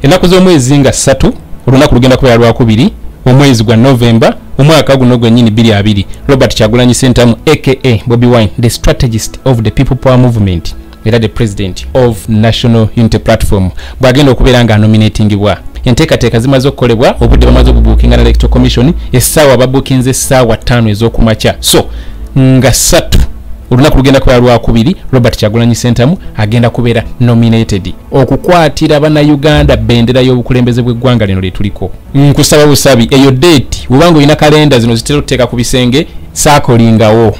ennaku z'omwezi nga ssatu olunaku lugenda kubeera lwakubiri omwezi gwa novemba omwaka guno gwenyini biri abiri robert kyagulanyi sentamu aka bobi wine the strategist of the people power movement era the president of national unity platform bwagenda okubeera nga anominatingibwa enteekateeka zimaze okukolebwa obudde bamaze okubuukinga na electoral commission essaawa babuukinze essaawa ttaano ez'okumakya so nga ssatu olunaku lugenda kubeera lwakubiri robert kyagulanyi sentamu agenda kubeera nominated okukwatira bannayuganda bendera y'obukulembeze bw'eggwanga lino lyetuliko nkusaba busabi eyo deeti webanga olina kalenda zino zitera okuteeka ku bisenge saakolingawo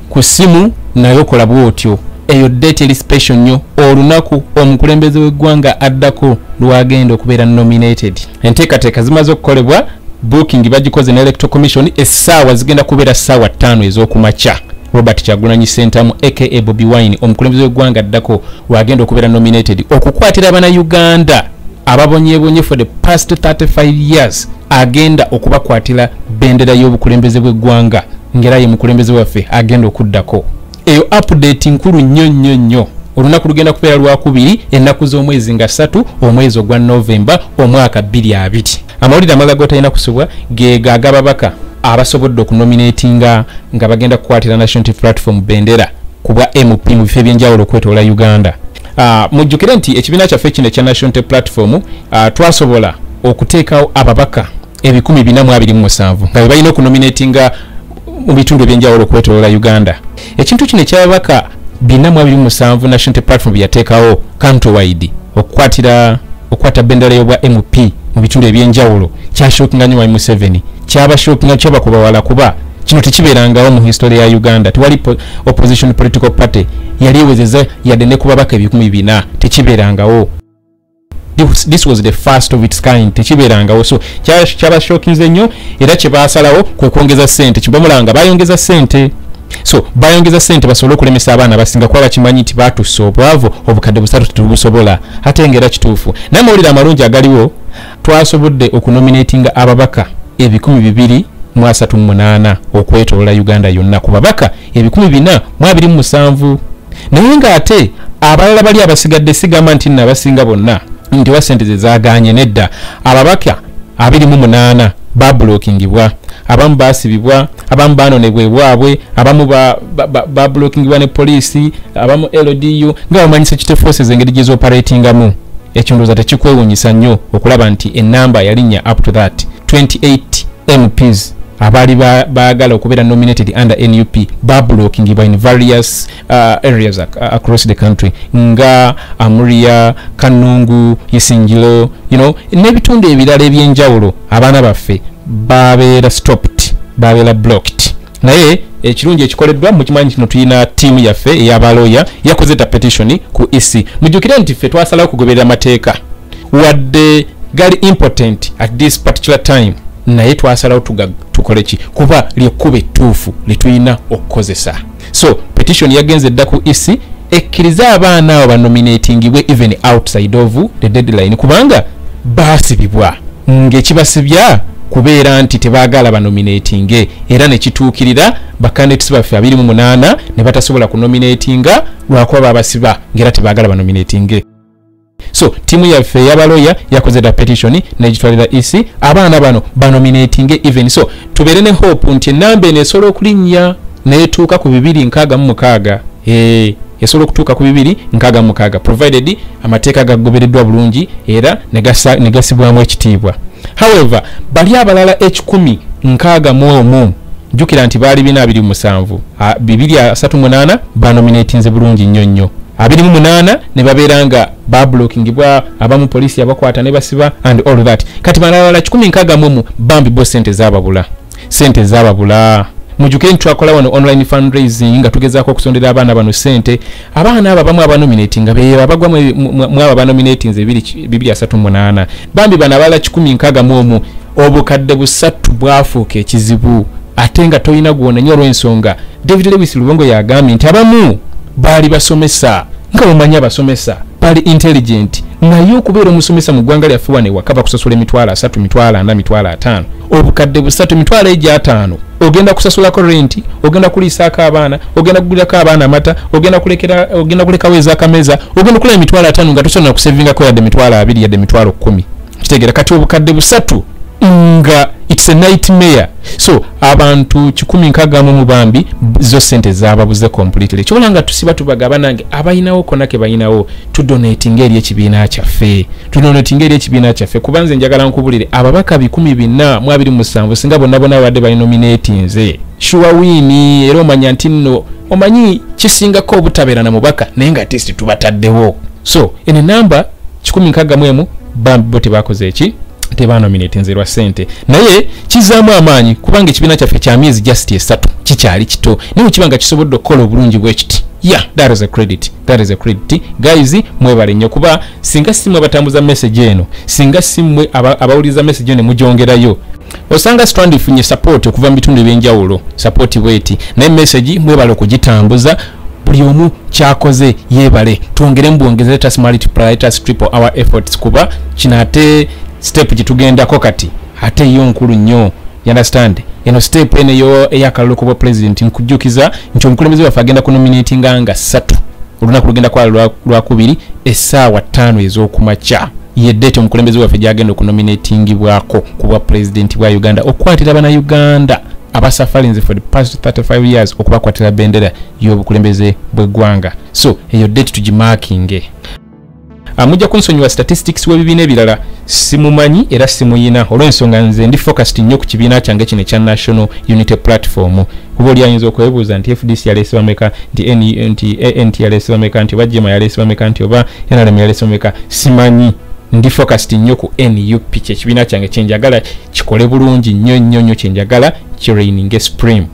ku ssimu naye okola bwotyo eyo deeti eri special nnyo olunaku omukulembeze w'eggwanga addako lwagenda okubeera nominated enteekateeka zimaze okukolebwa booking bagikoze ne electoral commission essaawa zigenda kubeera ssaawa ttaano ez'okumakya robert kyagulanyi sentamu aka bobi wine omukulembeze w'eggwanga addako wagenda okubeera nominated okukwatira banauganda ababonyebonye for the past 35 years agenda okubakwatira bendera y'obukulembeze bw'eggwanga ngera ye mukulembeze waffe agenda okuddako eyo update nkulu nnyo nnyo nnyo olunaku lugenda kubeera lwakubiri ennaku z'omwezi nga ssatu omwezi ogwa novemba omwaka bbiri abiri amawulire amala gotalina kusubwa geega agababaka abasobodde okunominatinga nga bagenda kukwatira national t platform bendera kubwa mp mu bifo ebyenjawulo okwetoola uganda ah, mujjukire nti ekibiina kyaffe kino ekya national t platform ah, twasobola okuteekawo ababaka ebikumi bina mu abiri mu musanvu nga bebalina okunominatinga mu bitundu ebyenjawulo okwetolola uganda ekintu kino ekyababaka bina mu abiri mu musanvu national platform byeyateekawo countrwide okukwatira okukwata bendera y'obwa mp mu bitundu ebyenjawulo kyashokinga nyo wai museveni kyabashokinga kyabakubawala kuba kino tekibeerangawo mu history ya uganda tewali opposition political party yali ewezeza yadde nekubabaka ebikumi bina tekibeerangawo this was the first of its kind tekibeerangawo so kyabashokinze nnyo era kyebaasalawo kwe kwongeza sente kibamulanga bayongeza sente so bayongeza sente basobole okulemesa abaana abasinga kuba bakimanyi nti batussa obwavu obukadde busatu tetubusobola ate ngaera kituufu naye amawulire amalungi agaliwo twasobodde okunominatinga ababaka ebikumi bibiri mu asatu munaana okwetolola uganda yonna ku babaka ebikumi bina mu abiri mu musanvu naye ng'ate abalala bali abasigadde sigamba nti nno abasinga bonna nti oba sente zezaganye nedda ababaka abiri mu munaana babulokingibwa abamu basibibwa abamu banonebwa ebwabwe abamu babulokingibwa ne poliisi abamu ldu nga bamanyisa kite forces engeri gyezoperatingamu ekyo ndooza tekikwewunyisa nnyo okulaba nti enamba yalinnya up to that 28 mps abaali baagala okubeera nominated under nup babulokingibwa in various uh, areas ac uh, across the country nga amuria kanungu isingilo you know n'ebitundu ebirala ebyenjawulo abaana baffe babeera stopped babeera blocked naye ekirungi ekikoleddwa mukimanyi kino tulina tiimu yaffe eyabaloya yakoze ta petitioni ku ec mujjukire nti ffe twasalawo okugoberera amateeka wadde gali impotent at this particular time naye twasalawo tukoleki kuba lyekkuba ettuufu lyetulina okukozesa so petition yagenze dda ku ec ekkirize abaana abo banominatingibwe even outside of the deadline kubanga baasibibwa ngekibasibya kubeera nti tebagala banominatinge era nekituukirira bakandidats baffe abiri mu munaana ne batasobola kunominatinga lwakuba babasiba ngaera tebagala banominatinge so tiimu yaffe eyabaloya yakoze da petition negitwalira ec abaana bano banominatinge even so tubeere ne hope nti enamba eno esobola okulinnya netuuka ku bibiri nkaaga mu mukaaga eh, esobola okutuuka ku bibiri nkaaga mu mukaaga provided amateeka gagobereddwa bulungi era negasibwamu ekitiibwa however bali abalala ekikumi nkaaga mu omu jjukira nti baali bina abiri musanvu bibiri asatu munaana banominatinze bulungi nnyo nnyo abiri mu munaana ne babeera nga bablokingibwa abamu poliisi yabakwata ne basiba and all that kati balalala kikumi nkaaga mumu bambi bo sente zababula sente zababula mujuke nti twakola wano online fundraising nga tugezaako okusondera abaana bano sente abaana abo abamu abanominati nga beyo abagwa mwabo abanominati nze bibiri asatu munaana bambi bano abalala kikumi nkaaga mu omu obukadde busatu bwafuuka ekizibu ate nga tolina gwonenya olw'ensonga david lewis lubongo yagambye nti abamu baali basomesa nga bamanya abasomesa baali intelligent naye okubeera omusomesa mu ggwanga lyaffe wano ewaka bakusasula emitwalo asatu mitwalo ana mitwalo ataano obukadde busatu emitwalo egyo ataano ogenda kusasulako renti ogenda kuliisaako abaana ogenda kugulirako abaana amata ogenda kulekera ogenda kulekawo ezakameza ogenda okulaba emitwalo ataano nga tosobola nakusevingako yadde emitwalo abiri yadde emitwalo kkumi kitegera kati obukadde busatu nga it's a nightmare so abantu kikumi nkaga mu mubambi zo sente zababuze completely kyola nga tusiba tubaga banange abayinawo kona ke bayinawo to donate ngeri ekibiina kyaffe to donate ngeri ekibiina kyaffe kubanze njagala nkubulire ababaka bikumi bina mu abiri musanvu singa bonna bona wadde bali nominate nze shuwa wini era omanya nti nno omanyi kisingako obutabeera na mubaka naye nga testi tubataddewo so ene namba kikumi nkagga mu emu bambi bo tebakoze eki tebanominate nze lwa sente naye kizaamu amaanyi kubanga ekibiina kyaffe kya myezi just esatu kikyali kito naye kiba nga kisobodde okukola obulungi bwekiti yeah that is a credit that is a credit guys mwebale nnyo kuba singa simwe abatambuza message eno singa simwe abawuliriza message eno ne mugyongerayo osanga strand ifunye support okuva mu bitundu ebyenjawulo support bweti naye message mwebale okugitambuza buli omu kyakoze yebale twongere mubwongeze let us multiply let us triple our efforts kuba kino ate step gyetugendako kati ate yo nkulu nnyo you understand eno step eno eyo eyakalulu kubwa president nkujjukiza nti omukulembeze waffe agenda kunominatinga nga ssatu olunaku lugenda kwala lwakubiri essaawa ttaano ez'okumakya ye date omukulembeze waffe gyagenda okunominatingibwako ku bwa pulezidenti bwa uganda okukwatira bana uganda abasafalinze for the past 35 years okubakwatira bendera y'obukulembeze bw'eggwanga so eyo date tugimakinge amujja ah, kunsonyiwa statistics w'ebibiina ebirala simumanyi era simuyina olw'ensonga nze ndi focused nnyo ku kibiina kyange kino ekya national unity platform kuba oli ayinza okwebuuza nti fdc yaleese bameka nti ant yaleese bameka nti oba jema yaleese bameka nti oba nrm yaleese bameka simanyi ndi focused nnyo ku nup kyekibiina kyange kyenjagala kikole bulungi nnyo nnyo nnyo kyenjagala kiraininge supreme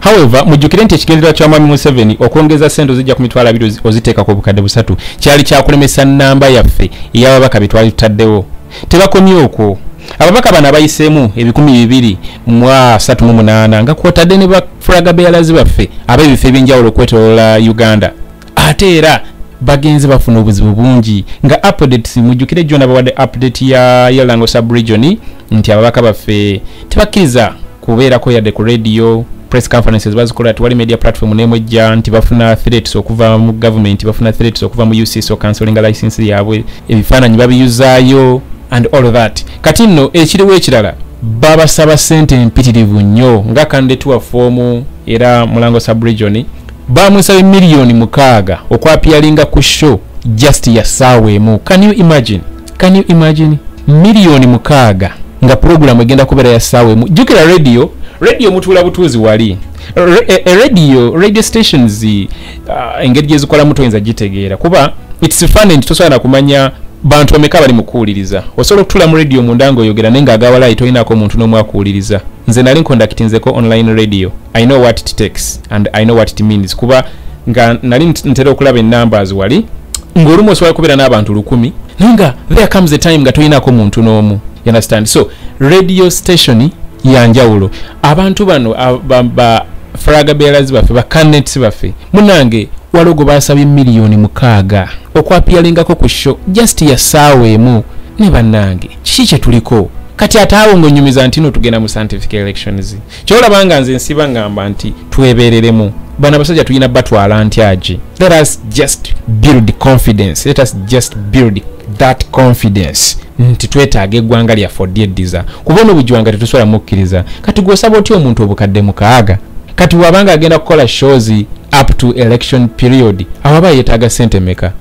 however mujjukire nti ekigendererwa kya mwami museveni okwongeza sente ozijja ku mitwalo abiri oziteeka ku bukadde busatu kyali kyakulemesa namba yaffe eyababaka bye twali tutaddewo tebakomye okwo ababaka bano abayiseemu ebikumi bibiri mu asatu mu munaana nga kwotadde ne bafulaga beyalazi baffe ab'ebifo eby'enjawulo okwetolola uganda ate era bagenze bafuna obuzibu bungi nga updates mujjukire jjo nabawadde update ya yalango subregion nti ababaka baffe tebakkiriza kubeerako yadde ku radio press conferences bazikola tewali media platform nemwejja nti bafuna threats okuva mu government bafuna threats okuva mu ucs o cancelinga license yaabwe ebifaananyi babiyuzaayo and all that kati nno ekiriwo ekirala babasaba sente empitirivu nnyo nga kandetuwa foomu era mulango subregion baamusabye miliyoni mukaaga okwapiyalinga ku show just ya ssaawa emu can you imagine can you imagine miliyoni mukaaga nga pulogulaamu egenda kubeera ya ssaawa emu jjukira radio radio mutuula butuuzi wali e, e, radio radio stations uh, engeri gyezikolamu toyinza gitegeera kuba its funny nti tosobola nakumanya bantu bameka bali mukuwuliriza osobola okutula mu radio munda nga oyogera naye nga agawalayi tolinako omuntu n'omu akuwuliriza nze nali nkondakitinzeko online radio i know what it takes and i know what it means kuba nga nali ntera okulaba enumbers wali ng'olumu osobola kubeera n'abantu lukumi naye nga there comes a time nga toyinako muntu n'omu you understand so radio station yanjawulo abantu bano ba fraga bearers baffe ba canets baffe munange walogo basabye miliyoni mukaaga okwapiyalingako ku sho just ya saawa emu ne bannange kiki kye tuliko kati ataawo ng'onyumiza nti no tugenda mu scientific elections kyolaba nga nze nsiba ngamba nti twebereremu bana basajja tulina batwala ntyagi let us just build confidence let us just build that confidence nti twetaaga eggwanga lyaffe odyeddiza kuba ono bujwanga tetusobola mukkiriza kati gwosaba otya omuntu obukadde mukaaga kati wabanga agenda kukola shows up to election period awaba yetaaga sente meka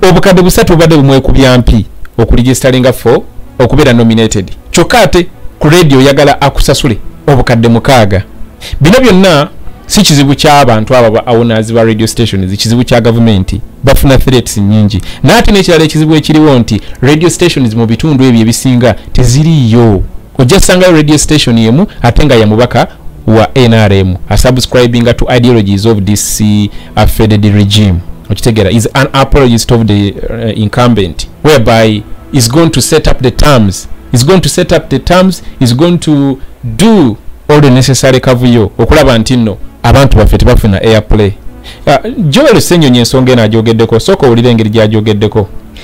obukadde busatu bubadde bumwekubya mpi okuligisteringa fo okubeera nominated kyokka ate ku radio oyagala akusasule obukadde mukaaga bino byonna si kizibu kyabantu abo awonazi ba radio stations kizibu kya gavumenti bafuna threats nyingi naye ate nekirala ekizibu ekiriwo nti radio stations mu bitundu ebyo ebisinga teziriiyo ojja sangayo radio station yemu ate nga yamubaka wa nrm asubscribinga to ideologies of this uh, faded regime okitegera is an apologist of the uh, incumbent whereby is going to set up the terms is going to set up the terms is going to do all the necessary kavuyo okulaba nti nno abantu baffe tebafuna airplay uh, joel senyonyi ensonga eno ajogeddeko sooka owulira engeri gyajogeddeko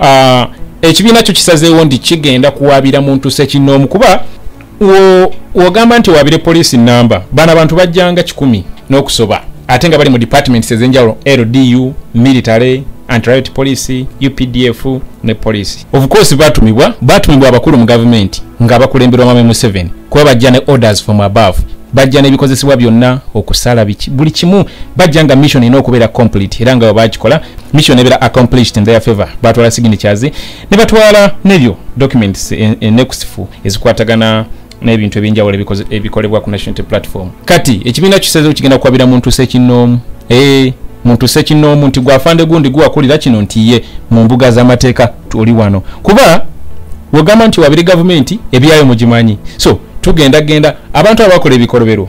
Ah, ekibiina kyo kisazeewo nti kigenda kuwaabira muntu sekinoomu kuba wogamba nti owaabire poliisi namba bano abantu bajjanga kikumi n'okusoba ate nga bali mu departments ezenjawulo ldu military antriot policy updf ne policy of course batumibwa batumibwa abakulu mu gavumenti nga bakulemberwa mame museveni kuba bajja ne orders from above bajja n'ebikozesebwa byonna okusala buli kimu bajja nga mission erina okubeera complete era nga webakikola mission ebera accomplished in their favor batwala signatures ne batwala nebyo documents enekusifu e, e ezikwatagana n'ebintu ebyenjawulo ebikolebwa ku national platform kati ekibiina kisezewo kigenda kuwabira muntu sekinoomu ee eh, muntu sekinoomu nti gwafande gundi guwakulira kino nti ye mu mbuga z'amateeka tuli wano kuba wegamba nti wabiri gavumenti ebyayo mugimanyi so tugenda genda abantu abakola ebikolobero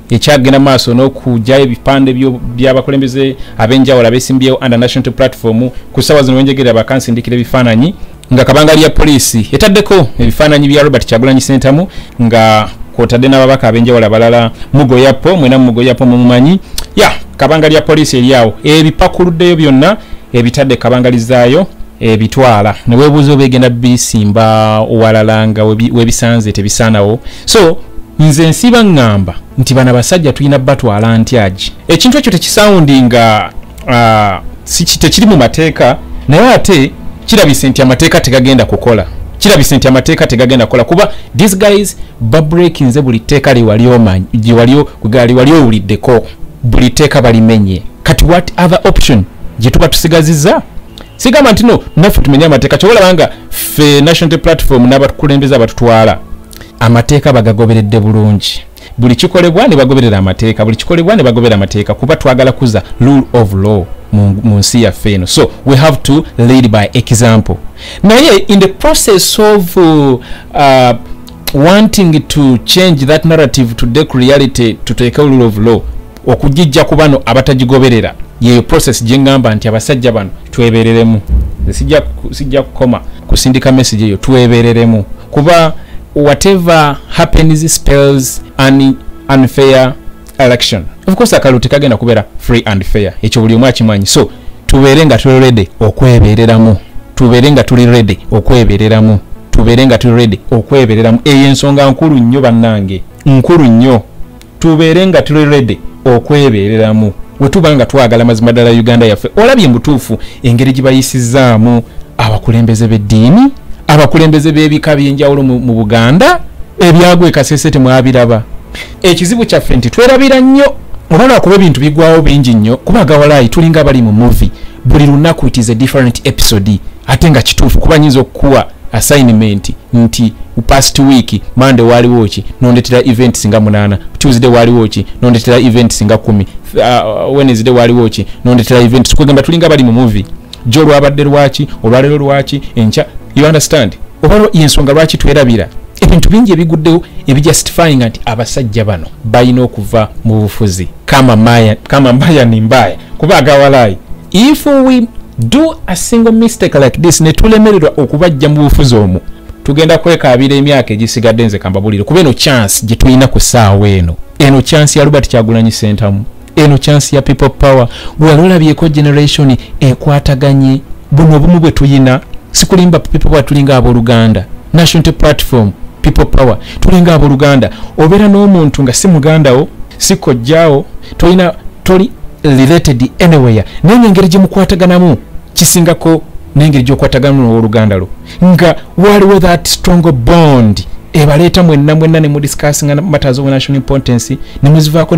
ekyagenda maaso n'okujayo ebipande byabakulembeze ab'enjawulo abesimbyewo under national platform ku ssawa zino wenjegerera bakansindikira ebifaananyi nga kabanga lya poliisi etaddeko ebifaananyi bya robert kyagulanyi sentamu nga kwotadde n'ababaka ab'enjawulo abalala mugoyapo mwena mugoyapo mumumanyi ya kabanga lya poliisi eryawo ebipakuluddeyo byonna ebitadde kabangali zaayo ebitwala newebuuza oba egenda bisimba owalala nga webisanze tebisaanawo so nze nsiba ngamba nti bana basajja tulina batwala ntyagi ekintu ekyo tekisawundi nga uh, tekiri mu mateeka naye ate kirabise nti amateeka tegagenda kukola kirabise nti amateeka tegagenda kukola kuba these guys babrekinze buli tteeka liwaliwali owuliddeko buli tteeka balimenye kati what other option gye tuba tusigaziza sigamba nti no naffe tumenye amateeka kyobalabanga ffe national platform n'abakulembeza abatutwala amateeka bagagoberedde bulungi buli kikolebwa ne bagoberera amateeka buli kikolebwa ne bagobera amateeka kuba twagala kuza rule of law mu nsi yaffe eno so we have to lead by example naye in the process of uh, wanting to change that narrative to dec reality tuteeke rule of law okugijja ku bano abatagigoberera yeyo process gye ngamba nti abasajja bano twebereremu sijja sijja kukoma kusindika message eyo twebereremu kuba whatever happens spells an unfair election of course akalu tekagenda kubeera free and fair ekyo buli omu akimanyi so tubeere nga tuli ready okwebereramu tubeere nga tuli ready okwebereramu tubeere nga tuli ready okwebereramu eyo ensonga nkulu nnyo bannange nkulu nnyo tubeere nga tuli redi okwebeereramu we tuba nga twagala mazima ddala uganda yaffe olabye mutuufu engeri gye bayisizaamu abakulembeze b'eddiini abakulembeze b'ebika by'enjawulo mu buganda ebyagwa ekasese temwabiraba ekizibu kyaffe nti twerabira nnyo oba lwakuba ebintu bigwawo bingi nnyo kuba gawalaayi tulinga abali mu muvi buli lunaku it is a different episode ate nga kituufu kuba nyinza okukuwa assignment nti past week mande waliwo ki nondetera event singa munana tuesday waliwo ki nondetera event singa kumi uh, wednesday waliwo ki nondetera event sikwegamba tulinga bali mu movie jo olwabadde lwaki olwalero lwaki enkya you understand oba yensonga lwaki twerabira ebintu bingi ebiguddewo ebijustifying nti abasajja bano balina okuva mu bufuzi kama mbaya ni mbaya kuba agawalaayi if we do a single mistake like this netulemererwa okubajja mu bufuzi omu tugenda kwekaabira emyaka egisigadde nze kambabulire kuba eno chance gye tulina ku ssaawa eno eno chance ya robert kyagulanyi sentamu eno chance ya people power wali olabyeko generation ekwataganye buno obumu bwe tuyina sikulimba people power tulinga abooluganda national platform people power tulinga abooluganda obeera n'omuntu nga si mugandawo si kojjaawo tolina toli related anywhere naye nengeri gyemukwataganamu kisingako nengeri gyokwataganamu nowoluganda lwo nga waliwo that strong bond ebaleeta mwenna mwenna nemudiscassinga matters of national importance nemuzivaako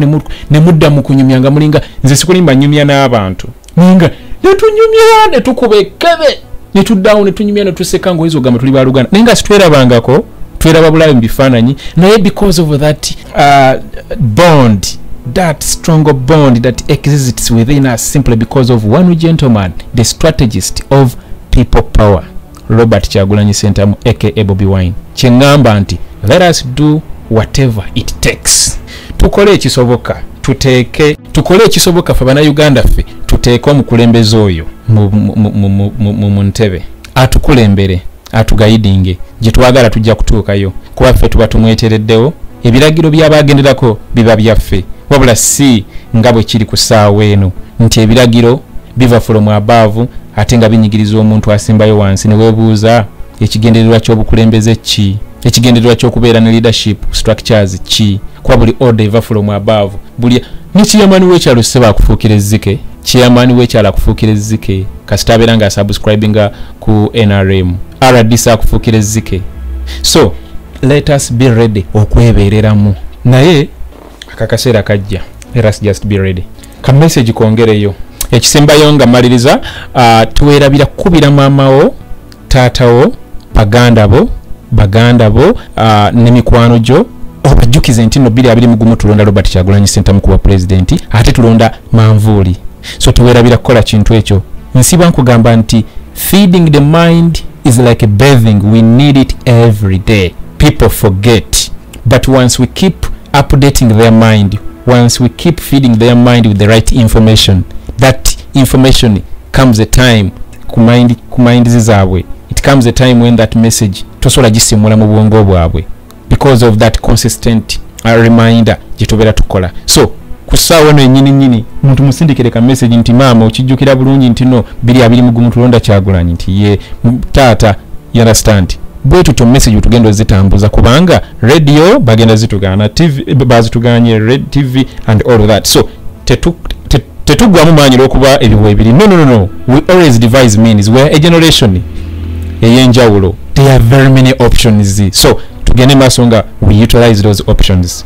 nemudda mukunyumya nga mulinga nze sikulimba nyumya n'abantu naye nga netunyumya netukuba ekebe netuddawo netunyumya netuseka ngaoyinza ogamba tuli baluganda naye nga sitwerabangako tweraba bulabe mu bifaananyi naye because of that uh, bond that stronger bond that exists within us simply because of one gentleman the strategist of people power robert kyagulanyi sentamu aka bobi wine kyengamba nti let us do whatever it takes tukole ekisoboka tuteeke tukole ekisoboka fe banauganda ffe tuteeke omukulembeze oyo mu ntebe atukulembere atugayidinge gyetwagala tujja kutuukayo kuba ffe tuba tumwetereddewo ebiragiro by'abaagenderako biba byaffe wabula si nga bwe kiri ku ssaawa eno nti ebiragiro biva fulomu abaavu ate nga binyigiriza omuntu asembayo wansi ne weebuuza ekigendererwa ky'obukulembeze ki ekigendererwa ky'okubeera ne leadership structures ki kuba buli order eva fulomu abaavu buli ne chairman w'ekyalo sseba akufuukira ezzike chairman w'ekyalo akufuukira ezzike kasita abeera nga asubscribinga ku nrm rdc akufukira ezzike so let us be ready okwebeereramu naye akakaseera kajja let us just be ready ka message kongereyo ekisembayo nga maliriza uh, twerabira kukubira maamawo taatawo baganda bo baganda bo uh, ne mikwano gyo obajjukize nti no 2 2 mu gumu tulonda robert kyagulanyi sentamu kuba pulezidenti ate tulonda manvuuli so tewerabira kukola kintu ekyo nsiba nkugamba nti feeding the mind is like a bathing we need it every day people forget but once we keep updating their mind once we keep feeding their mind with the right information that information comes a time ku mind ku mind zaabwe it comes a time when that message tosobola gisimula mu bwongo bwabwe because of that consistent uh, reminder gyetubera tukola so kusaawa eno enyini nyini muntu musindikire ka message nti maama okijjukira bulungi nti no biri abiri mugumu tulonda kyagulanyi nti ye taata you understand bwe tutyo message tugenda zitambuza kubanga radio bagenda zitugana tv bazituganye red tv and all that so tetugwamu maanyi olwokuba ebyo webiri no no no we always devise means weare a generation eyenjawulo there are very many options so tugende maaso nga we utilize those options